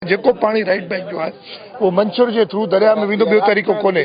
جيڪو پاڻي right bank جو آهي اهو منڇر جي ٿرو درياء ۾ ويندو ٻيو طريقو ڪونهي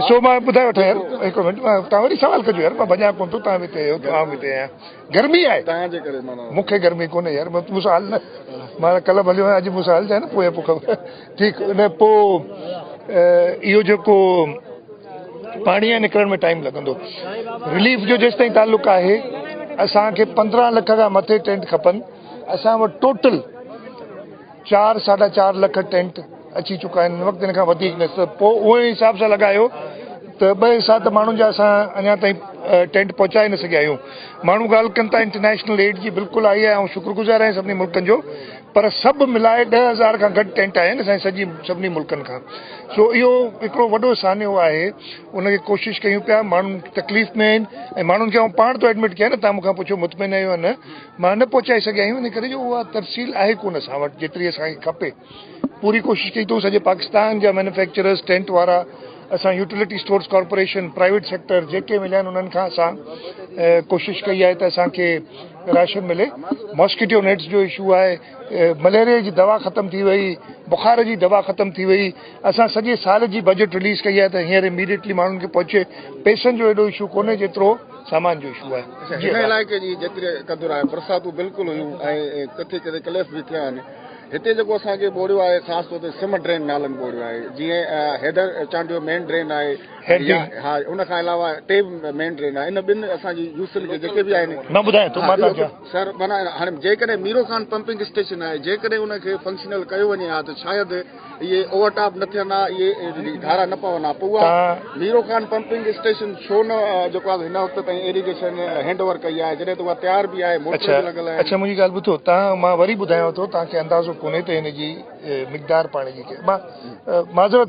سو مان ٻڌائي وٺان يار هڪ منٽ تان وري سوال ڪجو يار مان ڀڄان ڪون ٿو تان به تي عام هتي آهيان گرمي آهي تان جي ڪري مان مونکي گرمي ڪونهي يار مون سال نه مان ڪلب هليو آهيان اڄ مون سال جا نه پويا پوکا ٺيڪ ان پو اهو جيڪو پاڻي جي نڪرڻ ۾ ٽائيم لڳندو رليف جو جيستائين تعلق آهي اسان کي پندرهن لک کان مٿي ٽينٽ کپن اسان وٽ ٽوٽل چار ساڍا چار لک ٽينٽ اچي چڪا آهن وقت ان کان وڌيڪ نه پوء اهي حساب سان لڳايو ته ٻه حصا ته ماڻهن جا اسان اڃا تائين ٽينٽ پهچائي نه سگهيا آهيون ماڻهو ڳالهه ڪن ٿا انٽرنيشنل ايڊ جي بلڪل آئي آهي آئون شڪر گذار آهيان سڀني ملڪن جو پر سڀ ملائي ڏهه هزار کان گهٽ ٽينٽ آهن اسان جي سڄي سڀني ملڪن کان سو اهو هڪڙو وڏو سانحو آهي ان کي ڪوشش ڪيون پيا ماڻهن تڪليف ۾ آهن ۽ ماڻهن کي آئون پاڻ ٿو ايڊمٽ ڪيان نه تان مونکان پڇو مطمئن آهيو يا نه مان نه پهچائي سگهيا آهيون ان ڪري جو اها ترسيل آهي ڪونه اسان وٽ جيتري اسان کي کپي پوري ڪوشش ڪئي اٿئون سڄي پاڪستان جا مينوفيڪچررز ٽينٽ وارا اسان utility stores corporation, private sector جيڪي مليا آهن انهن کان اسان ڪوشش ڪئي آهي ته اسان کي راشن ملي. ماسڪيٽو نيٽس جو اشو آهي، مليريا جي دوا ختم ٿي وئي، بخار جي دوا ختم ٿي وئي، اسان سڄي سال جي بجيٽ رليز ڪئي آهي ته هينئر اميڊيٽلي ماڻهن کي پهچي، پئسن جو ايڏو اشو ڪونهي جيترو سامان جو اشو آهي. هن علائقي جي جيتري قدر آهي برساتون بلڪل هيون ۽ ڪٿي ڪٿي ڪليف به ٿيا آهن. هتي جيڪو اسان کي ٻوڙيو آهي خاص طور تي سم ڊرين نالن ٻوڙيو آهي جيئن حيدر چانڊيو مين ڊرين آهي ها ان کان علاوه ٽي مين ڊرين آهي ان ٻن اسان جي يوسل کي جيڪي به آهن مان ٻڌايان ٿو مان ٿا سر معنی هاڻي جيڪڏهن ميرو خان پمپنگ اسٽيشن آهي جيڪڏهن ان کي فنڪشنل ڪيو وڃي ها ته شايد اهي اوور ٽاپ نه ٿين ها، اهي ڍارا نه پون ها، پوء اها ميرو خان پمپنگ اسٽيشن ڇو نه جيڪو آهي سو هن وقت تائين ايريگيشن هينڊ اوور ڪئي آهي، جڏهن ته اها تيار به آهي، موٽر به لڳل آهن. اڇا منهنجي ڳالهه ٻڌو تان مان وري ٻڌايانو ٿو تان کي اندازو ڪونهي ته هن جي مقدار پاڻي جي ڪيئي مان معذرت.